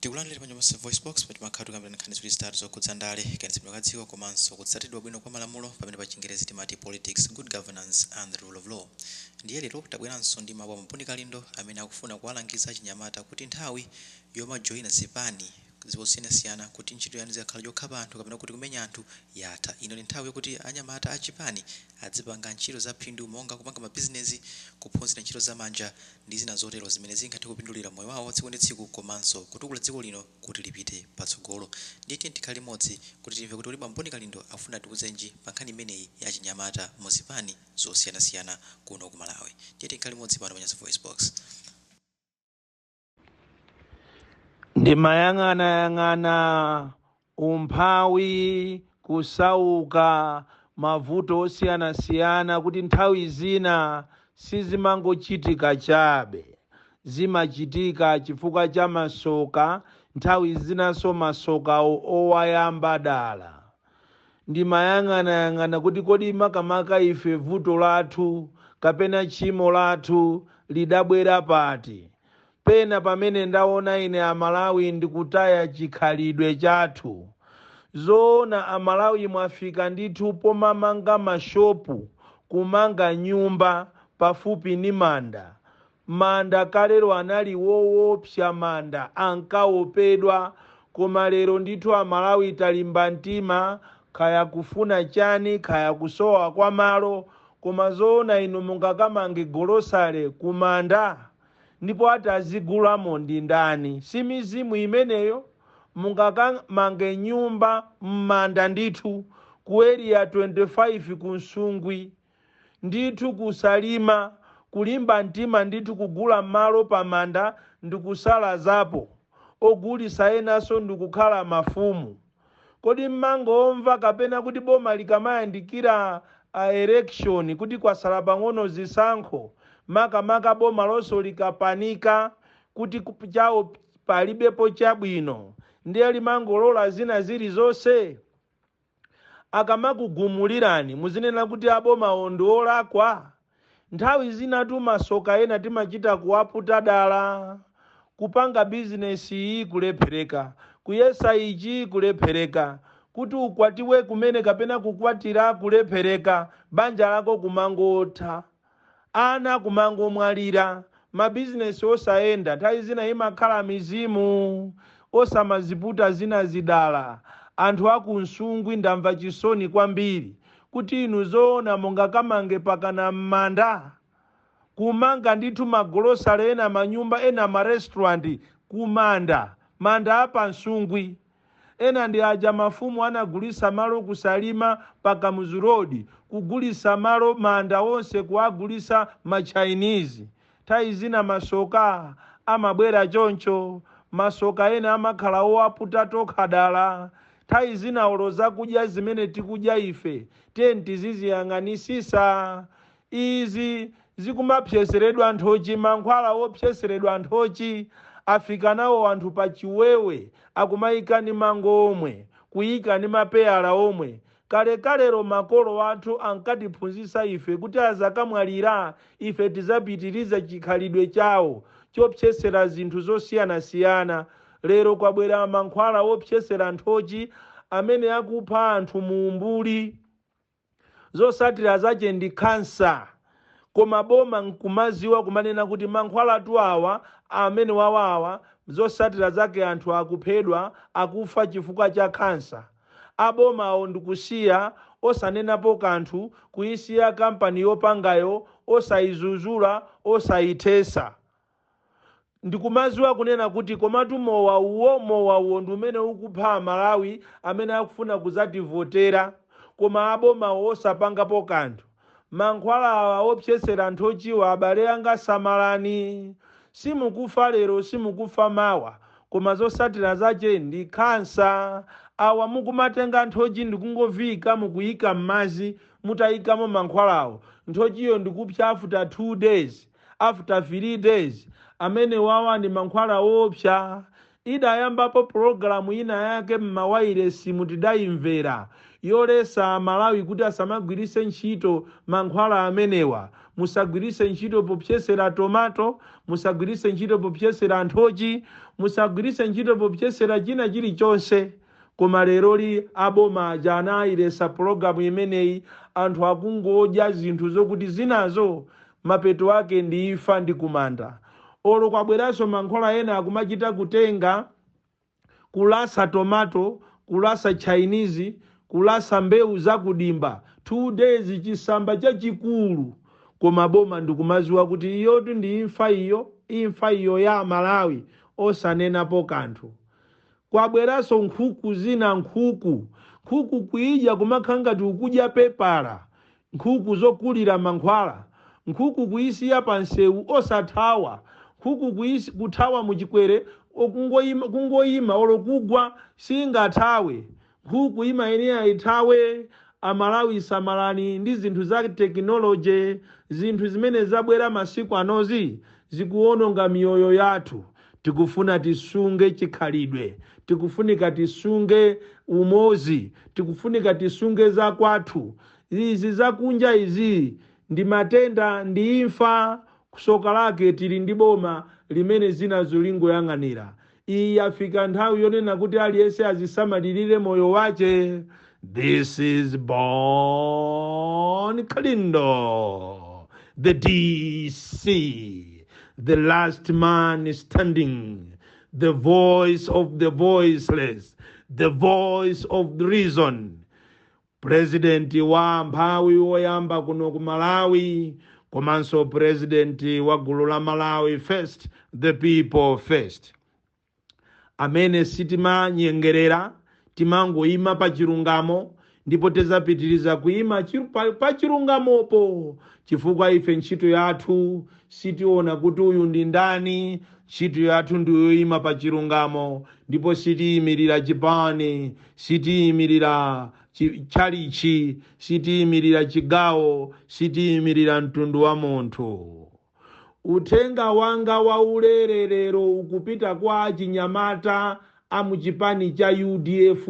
Takulandirani pano pa Nyasa VoiceBox pomwe timakhala tikukambirana nkhani ziwiri zitatu zokhudza ndale, kayendetsedwe ka dziko komanso kutsatidwa bwino kwa malamulo pamene pa chingerezi timati politics, good governance and the rule of law. Ndiye lero tabweranso ndi mawu a Bon Kalindo amene akufuna kuwalangiza achinyamata kuti nthawi yomajoina zipani zosiyanasiyana kuti ntchito yanu izikakhala yokhapa anthu kapena kuti kumenya anthu yatha. Ino ndi nthawi yokuti anyamata achipani azipanga ntchito zaphindu monga kupanga mabizinezi, kuphunzira ntchito zamanja ndi zina zotero zimene zingathe kupindulira moyo wawo tsiku ndi tsiku komanso kutukula dziko lino kuti lipite patsogolo. Ndiye tiyeni tikhale limodzi kuti timve kuti kodi a Bon Kalindo akufuna atiuzenji pa nkhani imeneyi ya achinyamata mu zipani zosiyanasiyana kuno ku Malawi. Ndiye tikhale limodzi pano pa Nyasa VoiceBox. Ndimayang'anayang'ana umphawi, kusauka, mavuto osiyanasiyana kuti nthawi zina sizimangochitika chabe. Zimachitika chifukwa cha masoka, nthawi zinanso masoka owayamba dala. Ndimayang'anayang'ana kuti kodi makamaka ife vuto lathu kapena tchimo lathu lidabwera pati? Pena pamene ndaona ine amalawi ndikutaya chikhalidwe chathu. Zoona amalawi mwafika ndithu pomamanga ma shop kumanga nyumba pafupi ni manda. Manda kalero anali woopsa manda ankaopedwa koma lero ndithu amalawi talimba mtima kaya kufuna chani kaya kusowa kwa malo koma zoona inu mungakamange golosale kumanda? ndipo atazigulamo ndi ndani? Si mizimu imeneyo? Mungakamange nyumba m'manda ndithu ku Area 25 ku Nsungwi ndithu ku Salima kulimba mtima ndithu kugula malo pa manda ndikusalazapo ogulisa enaso ndikukhala mafumu. Kodi mmangomva kapena kuti boma likamayandikira election kuti kwasala pang'ono zisankho makamaka bomalonso likapanika kuti chawo palibepo chabwino ndiye limangolola zina zilizonse? Akamakugumulirani muzinena kuti abomawo ndi olakwa? Nthawi zinatu masoka ena timachita kuwaputa dala, kupanga business iyi kulephereka, kuyesa ichi kulephereka, kuti ukwatiwe kumene kapena kukwatira kulephereka, banja lako kumangotha, ana kumangomwalira, ma business osayenda, nthawi zina imakhala mizimu, osamaziputa zinazi dala, anthu aku Nsungwi ndamva chisoni kwambiri, kuti inu zoona mungakamange mpakana mmanda? kumanga ndithu magolosale ena manyumba ena ma restaurant kumanda manda a pa nsungwi ena ndi aja mafumu anagulisa malo ku salima pa kamuzu road kugulisa malo manda onse kuwagulisa ma chinese Nthawi zina masoka amabwera choncho. Masoka ena amakhala owaputa tokha dala. Nthawi zina olo zakudya zimene tikudya ife tiyeni tiziziyang'anisisa. Izi zikumapsetseredwa nthochi mankhwala opsetseredwa nthochi afika nawo anthu pa chiwewe akumaika ndi mango omwe, kuika ndi mapeyala omwe Kalekalelo makolo athu ankatiphunzitsa ife kuti azakamwalira, ife tidzapitirize chikhalidwe chawo chopsetsera zinthu zosiyanasiyana. Lero kwabwera mankhwala opsetsera nthochi amene akupha anthu mu umbuli. Zotsatira zache ndi khansa. Koma boma nkumadziwa kumanena kuti mankhwalatu awa, amenewawa awa, zotsatira zake anthu akuphedwa, akufa chifukwa cha khansa. a bomawo ndikusiya osanenapo kanthu kuisiya company yopangayo osaizuzula osaithesa ndikumaziwa kunena kuti komatu mowa uwo mowa uwo ndi umene ukupha amalawi amene akufuna kuzativotera koma abomawo osapangapo kanthu. mankhwala awa opsetsera nthochiwa abale anga samalani simukufa lero simukufa mawa koma zosatira zache ndi khansa awa mukumatenga nthochi ndikungoviika mukuika mmazi mutaikamo mankhwalawo nthochiyo ndikupsa after 2 days after 3 days amenewawa ndi mankhwala oopsa Idayambapo pulogalamu ina yake m'mawailesimu tidaimvera yolesa Amalawi kuti asamagwiritse ntchito mankhwala amenewa, musagwiritse ntchito popsetsera tomato, musagwiritse ntchito popsetsera nthochi, musagwiritse ntchito popsetsera china chilichonse. Koma leroli a boma aja anayiletsa pologalamu imeneyi anthu akungodya zinthu zokuti zinazo mapeto ake ndi imfa ndi kumanda. Olo kwabweranso mankhwala ena akumachita kutenga, kulasa tomato, kulasa chinese, kulasa mbewu za ku dimba 2 days chisamba chachikulu koma boma ndikumaziwa kuti iyotu ndi imfa iyo, imfa iyo ya amalawi osanenapo kanthu. Kwabweranso nkhuku zina nkhuku nkhuku kuidya kumakhala ngati ukudya pepala nkhuku zokulira mankhwala nkhuku kuisiya pa nseu osathawa nkhuku kuisi kuthawa muchikwere kungoima kungoima olo kugwa siingathawe Nkhuku imayenera ithawe. Amalawi samalani ndi zinthu za technology. Zinthu zimene zabwera masiku anozi zikuononga miyoyo yathu. Tikufuna tisunge chikhalidwe. Tikufunika tisunge umodzi. Tikufunika tisunge za kwathu. Izi za kunja izi ndi matenda ndi imfa. Tsoka lake tili ndi boma limene zinazo lingoyang'anira. Iyi yafika nthawi yonena kuti aliyense azisamalirire moyo wache this is bon kalindo the dc the last man standing the voice of the voiceless the voice of reason President wa amphawi woyamba kuno ku Malawi komanso president wa gulu la Malawi first the people first amene sitimanyengerera timangoima pa chilungamo ndipo tidzapitiriza kuima chiru- pa- pa chilungamopo chifukwa ife ntchito yathu sitiona kuti uyu ndi ndani ntchito yathu ndiyoima pa chilungamo ndipo sitiyimirira chipani Sitiimirira chi, tchalitchi, sitiimirira chigawo, sitiimirira mtundu wa munthu. Uthenga wanga waulere lero ukupita kwa achinyamata a mu chipani cha udf.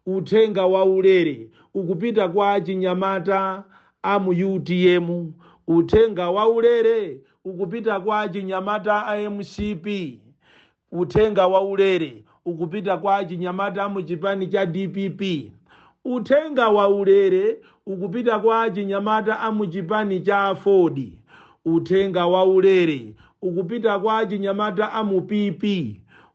Uthenga waulere ukupita kwa achinyamata a mu utm. Uthenga waulere ukupita kwa achinyamata a mcp. Uthenga waulere ukupita kwa achinyamata amu chipani cha dpp Uthenga waulere ukupita kwa achinyamata amu chipani cha aford Uthenga waulere ukupita kwa achinyamata amu PP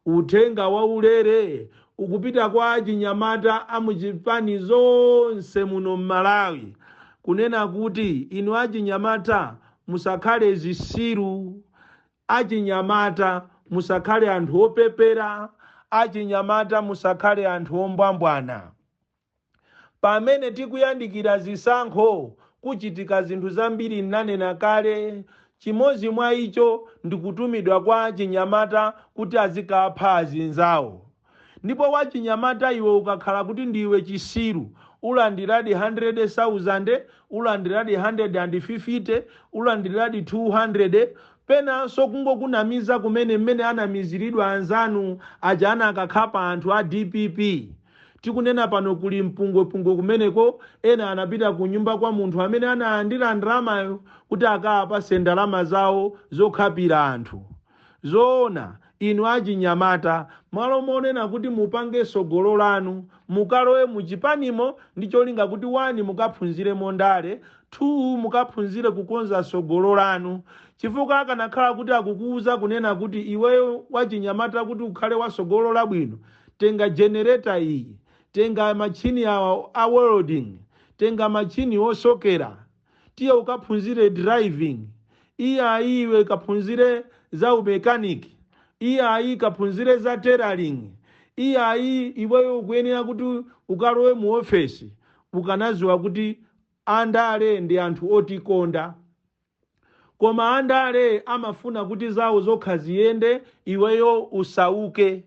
Uthenga waulere ukupita kwa achinyamata amu zipani zonse muno m'Malawi kunena kuti inu achinyamata musakhale zisiru Achinyamata, musakhale anthu opepera. Achinyamata, musakhale anthu ombwambwana. Pamene tikuyandikira zisankho, kuchitika zinthu zambiri nnanena kale. Chimodzi mwa icho ndi kutumidwa kwa achinyamata kuti azikapha azinzawo. Ndipo wachinyamata iwe ukakhala kuti ndiwe chisiru ulandiradi handirede sauzande, ulandiradi handiredi andi fifite, ulandiradi thuu handirede, penanso kungokunamiza kumene mmene anamiziridwa anzanu aja anakakhapa anthu a dpp. Tikunena pano kuli mpungwepungwe kumeneko ena anapita kunyumba kwa munthu amene analandira ndalamayo kuti akaapatse ndalama zawo zokhapira anthu. Zoona, inu achinyamata, malo monena kuti mupange tsogolo lanu, mukalowe mu chipanimo ndi cholinga kuti 1 mukaphunziremo ndale, 2 mukaphunzire kukonza tsogolo lanu. Chifukwa akanakhala kuti akukuuza kunena kuti iweyo wachinyamata kuti ukhale wa tsogolo labwino, tenga generator iyi, tenga matchini awa a welding, tenga matchini osokera. Tiye ukaphunzire driving. Iyayi iwe kaphunzire za umekaniki. Iyayi kaphunzire za tailoring. Iyayi iweyo ukuyenera kuti ukalowe mu ofesi. Ukanaziwa kuti andale ndi anthu otikonda. Koma andale amafuna kuti zawo zokha ziyende iweyo usauke.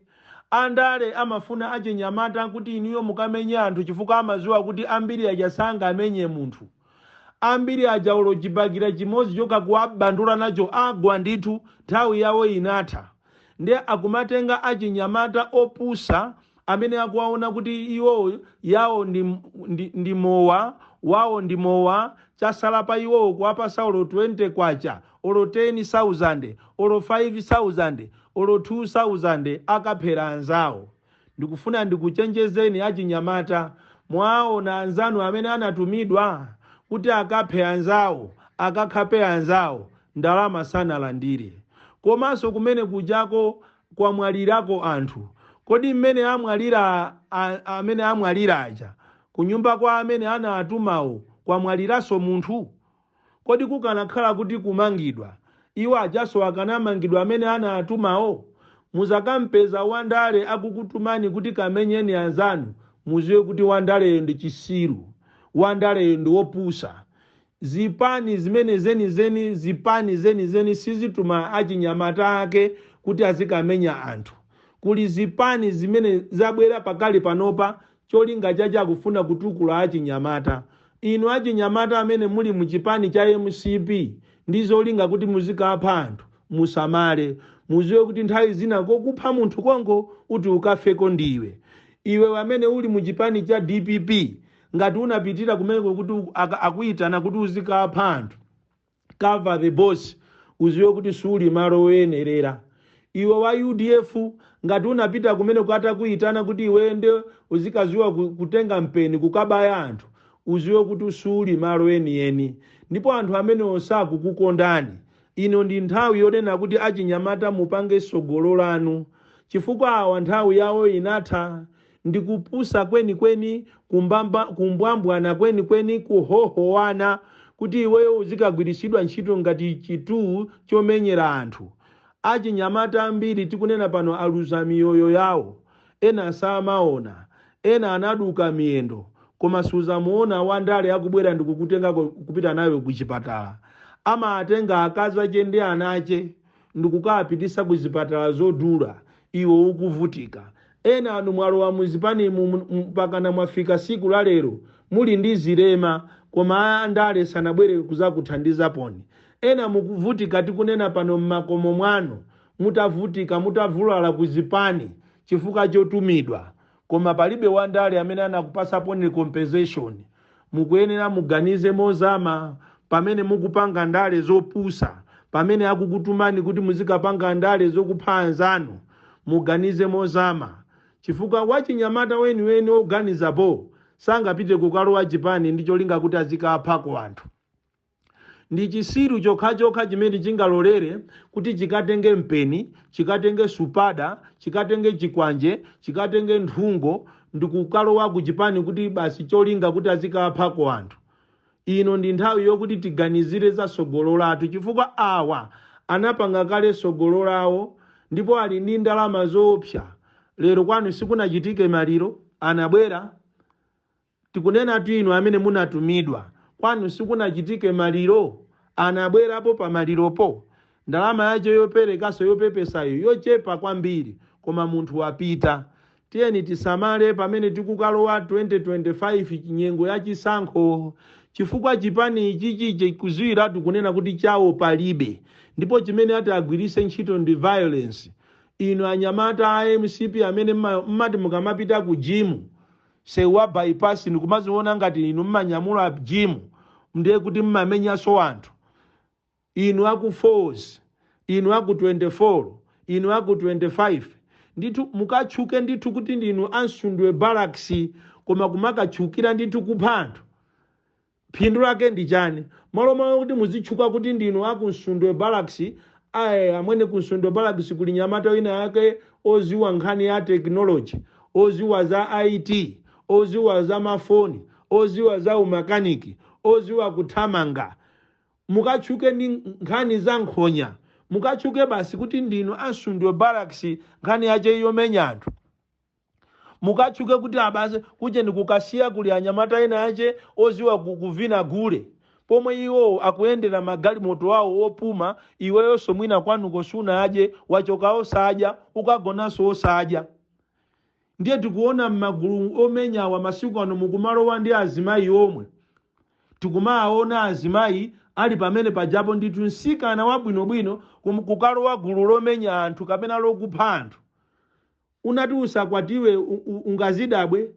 Andale amafuna achinyamata kuti inuyo mukamenye anthu chifukwa amaziwa kuti ambiri aja sangamenye munthu. Ambiri aja olo chibakera chimozi chokha kuwabandula nacho agwa ndithu nthawi yawo inatha. Nde akumatenga achinyamata opusa amene akuwaona kuti iwowo yawo ndi mowa wawo ndi mowa chasala pa iwowo kuwapasa olo K20. olo teni sauzande, olo faivi sauzande, olo thuu sauzande akaphera anzawo. Ndikufuna ndikuchenjezeni achinyamata, mwaona anzanu amene anatumidwa kuti akaphe anzawo, akakhape anzawo, ndalama sanalandire. Komaso kumene kujako kwamwalirako anthu, kodi mmene amene amwalira aja, kunyumba kwa amene anawatumawo kwamwaliraso munthu? Kodi kukanakhala kuti kumangidwa, iwo ajaso akanamangidwa amene anawatumawo? Muzakampeza wandale akukutumani kuti kamenyeni anzanu muziwe kuti wandaleyo ndi chisiru, wandaleyo ndi wopusa. Zipani zimene zenizeni zipani zenizeni sizituma achinyamata ake kuti azikamenya anthu. Kuli zipani zimene zabwera pakali panopa Cholinga chache akufuna kutukula achinyamata. Inu achinyamata amene muli mu chipani cha mcp ndi zolinga kuti muzikapha anthu musamale. Muziwe kuti nthawi zina kokupha munthu konko uti ukafeko ndiwe. Iwe wamene uli mu chipani cha dpp ngati unapitira kumeneko kuti akuyitana kuti uzikapha anthu. cover the boss uziwe kuti suli malo oyenerera iwe wa udf ngati unapita kumeneko atakuitana kuti iweyo nde uzikaziwa kutenga mpeni kukabaya anthu uziwe kuti suli malo enieni ndipo anthu amenewo sakukukondani ino ndi nthawi yonena kuti achinyamata mupange sogolo lanu chifukwa awa nthawi yawo inatha Ndi kupusa kwenikweni, kumbwambwana kwenikweni, kuhohowana, kuti iweyo uzikagwiritsidwa ntchito ngati chinthu chomenyera anthu. Achinyamata ambiri tikunena pano aluza miyoyo yawo. Ena samaona. Ena anaduka miyendo. Koma suzamuona wandale akubwera ndikukutenga kupita nawe kuchipatala. Amaatenga akazache ndi anache. ndikukawapititsa ku zipatala zodula iwe ukuvutika. Enanu mwalowa mu zipanimu mpakana mwafika siku la lero muli ndi zilema koma a ndale sanabwere kuzakuthandizaniponi. Ena mukuvutika tikunena pano mmakomo mwanu mutavutika mutavulala ku zipani chifukwa chotumidwa. koma palibe wandale amene anakupatsaniponi compensation mukuyenera muganize mozama pamene mukupanga ndale zopusa pamene akukutumani kuti muzikapanga ndale zokupha anzanu muganize mozama chifukwa wachinyamata weniweni oganiza bho sangapite kukalowa chipani ndi cholinga kuti azikaphako anthu Ndi chisiru chokhachokha chimene chingalolere kuti chikatenge mpeni, chikatenge supada, chikatenge chikwanje, chikatenge nthungo, ndikukalowa ku chipani kuti basi cholinga kuti azikaphako anthu. Ino ndi nthawi yokuti tiganizire za sogolo lathu chifukwa awa anapanga kale sogolo lawo ndipo ali ndi ndalama zoopsa. Lero kwanu sikunachitike maliro? Anabwera? Tikunenatu inu amene munatumidwa. Kwanu sikunachitike maliro? Anabwerapo pa maliropo? Ndalama yache yoperekaso yopepesayo yochepa kwambiri koma munthu wapita. Tiyeni tisamale pamene tikukalowa 2025 nyengo ya chisankho chifukwa chipani ichichi chikuziwiratu kunena kuti chawo palibe ndipo chimene ati agwiritse ntchito ndi violence. Inu anyamata a mcp amene mmati mukamapita ku gym. sewu wa bypass ndikumaziona ngati inu mmanyamula jimu ndiye kuti mmamenyanso anthu inu aku falls inu aku 24 inu aku 25 ndithu mukatchuke ndithu kuti ndinu a Msundwe barracks koma kumakatchukira ndithu kupha anthu Phindu lake ndi chani? Malo mwa kuti muzitchuka kuti ndinu aku Msundwe Barracks, ai amwene ku Msundwe Barracks kuli nyamata wina wake oziwa nkhani ya technology, oziwa za IT, oziwa za mafoni, oziwa za umakaniki, oziwa kuthamanga. Mukatchuke ndi nkhani za nkhonya, mukatchuke basi kuti ndinu a Msundwe Barracks nkhani yache yomenya anthu. mukatchuke kuti abasi kujeni kukasiya kuli anyamata ena ache oziwa ku, kuvina gule pomwe iwowo akuyendera magalimoto awo opuma iweyonso mwina kwanuko sunadye wachoka osadya ukagonanso osadya ndiye tikuona m'magulu omenyawa masiku ano mukumalowa ndi azimayi omwe tikumaona azimayi ali pamene pajapo ndithu msikana wabwinobwino kum- kukalowa gulu lomenya anthu kapena lokupha anthu Unati usakwatiwe ungazidabwe?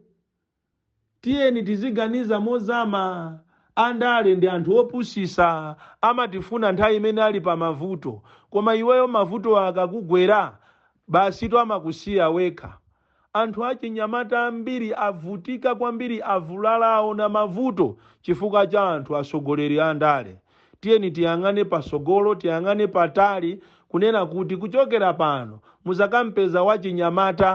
Tiyeni tiziganiza mozama andale ndi anthu opusisa amatifuna nthawi imene ali pamavuto koma iweyo mavutowo akakugwera basitu amakusiya wekha anthu achinyamata ambiri avutika kwambiri avulala aona mavuto chifukwa cha anthu atsogoleri andale. Tiyeni tiyang'ane patsogolo, tiyang'ane patali, kunena kuti kuchokera pano muzakampeza wachinyamata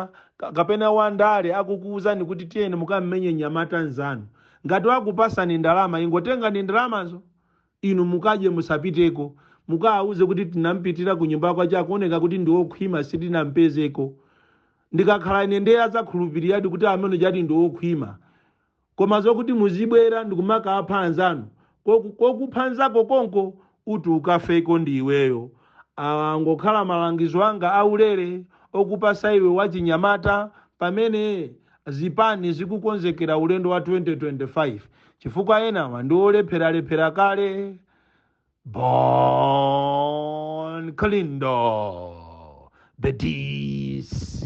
kapena wandale akukuuzani kuti tiyeni mukammenye mnyamata nzanu. Ngati wakupasani ndalama ingotengani ndalamazo inu mukadye musapiteko. Mukawauze kuti tinampitira kunyumba kwache akuoneka kuti ndiokhwima sitinampezeko. Ndikakhala ine nde azakhulupiriradi kuti amene uja ati ndiokhwima. Koma zokuti muzibwera ndikumakawapha anzanu koku kokupha nzako konko uti ukafeko ndi iweyo awa angokhala malangizo anga aulere okupasa iwe wachinyamata pamene zipani zikukonzekera ulendo wa 2025 chifukwa enawa ndi olepheralephera kale Bon Kalindo the DC